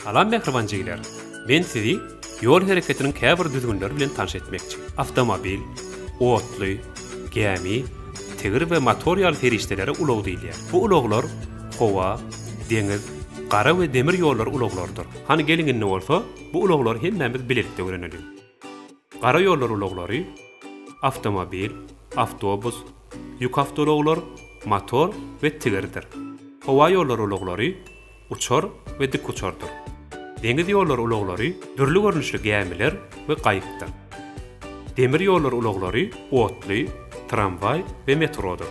Salam mähriban jigler. Men sizi ýol hereketiniň käbir düzgünleri bilen tanyş etmekçi. Awtomobil, otly, gämi, tigir we motor ýaly serişdelere ulag diýilýär. Bu ulaglar howa, deňiz, gara we demir ýollar ulaglarydyr. Hany geliň indi bolsa bu ulaglary hemmämiz bilelikde öwreneliň. Gara ýollar ulaglary, awtomobil, awtobus, ýük awtoulaglar, motor we tigirdir. Howa ýollar ulaglary, uçar we dikuçardyr. Deňiz ýollar ulaglary, dürli görnüşli gämiler we gaýykdyr. Demir ýollar ulaglary, otly, tramwaý we metrodyr.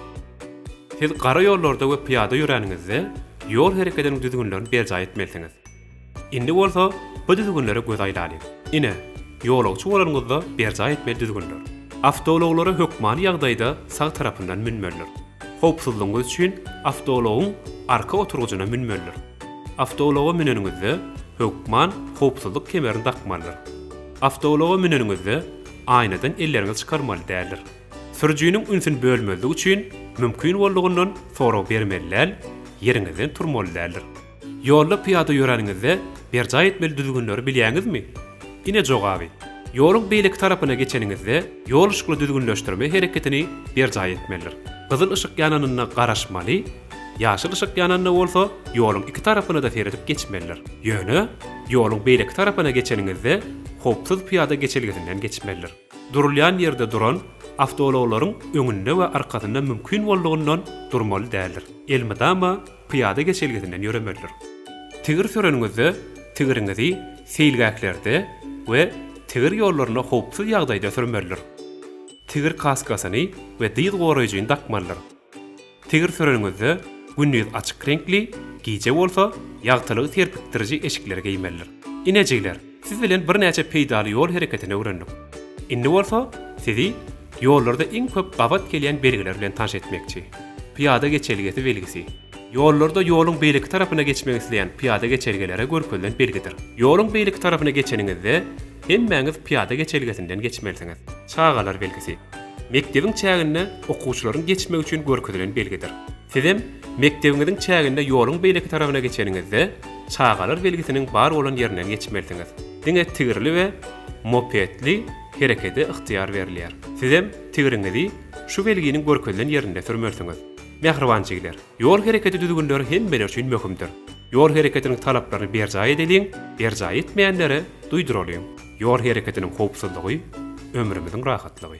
Siz gara ýollarda we pyýada ýöräniňizde ýol hereketiniň düzgünlerini berjaý etmelisiňiz. Indi bolsa bu düzgünlere göz aýlalyň. Ine, ýolagçy bolanyňyzda berjaý etmeli düzgünler. Awtoulaglara hökmany ýagdaýda sag tarapyndan münmelidir. Howpsuzlygyňyz üçin awtoulagyň arka oturgyjyna münmelidir. Awtoulaga müneniňizde hökman howpsuzlyk kemerini dakmalydyr. Awtoulaga müneniňizde aýnadan elleriňizi çykarmaly däldir. Sürüjiniň ünsüni bölmezlik üçin mümkin boldugyndan sorag bermeli däl, ýeriňizden turmaly däldir. Ýolda pyýada ýöräniňizde berjaý etmeli düzgünleri bilýäňizmi? Ine jogaby, Ýoluň beýleki tarapyna geçeniňizde ýol yşykly düzgünleşdirme hereketini berjaý etmelidir. Gyzyl yşyk ýananynda garaşmaly, ýaşyl yşyk ýananda bolsa ýoluň iki tarapyna-da seredip geçmelidir. Ýöne, ýoluň beýleki tarapyna geçeniňizde howpsuz pyýada geçelgesinden geçmelidir. Durulýan ýerde duran awtoulaglaryň öňünde we arkasynda mümkin boldugyndan durmaly däldir. Elmydama pyýada geçelgesinden ýöremelidir. Tigir süreniňizde tigiriňizi seýilgählerde we tigir ýollarynda howpsuz ýagdaýda sürmelidir. Tigir kaskasyny we dyz goraýjyny dakmalydyr. Tigir süreniňizde gündiz açyk reňkli, gije bolsa ýagtylygy serpikdiriji eşikleri geýmelidir. Inejikler, siz bilen birnäçe peýdaly ýol hereketini öwrendik. Indi bolsa sizi ýollarda iň köp gabat gelýän belgiler bilen tanş etmekçi. Pyýada geçelgesi belgisi. Ýollarda ýoluň beýleki tarapyna geçmek isleýän pyýada geçelgelere görkezilen belgidir. Ýoluň beýleki tarapyna geçeniňizde hemmäňiz pyýada geçelgesinden geçmelisiňiz. Çagalar belgisi. Mekdebiň çäginde okuwçylaryň geçmegi üçin görkezilen belgidir. Sizem mekdebiňiziň çäginde ýoluň beýleki tarabyna geçeniňizde çagalar belgisiniň bar bolan ýerinden geçmelisiňiz. Diňe tigirli we mopedli herekede ygtyýar berilýär. Sizem tigriňizi şu belginiň görkezilen ýerinde sürmelisiňiz. Mähriban jigiler! Ýol herekedi düzgünleri hemmeler üçin möhümdir. Ýol hereketiniň talaplaryny berjaý edeliň, berjaý etmeýänlere duýduralyň. Ýol hereketiniň howpsuzlygy, ömrümiziň rahatlygy.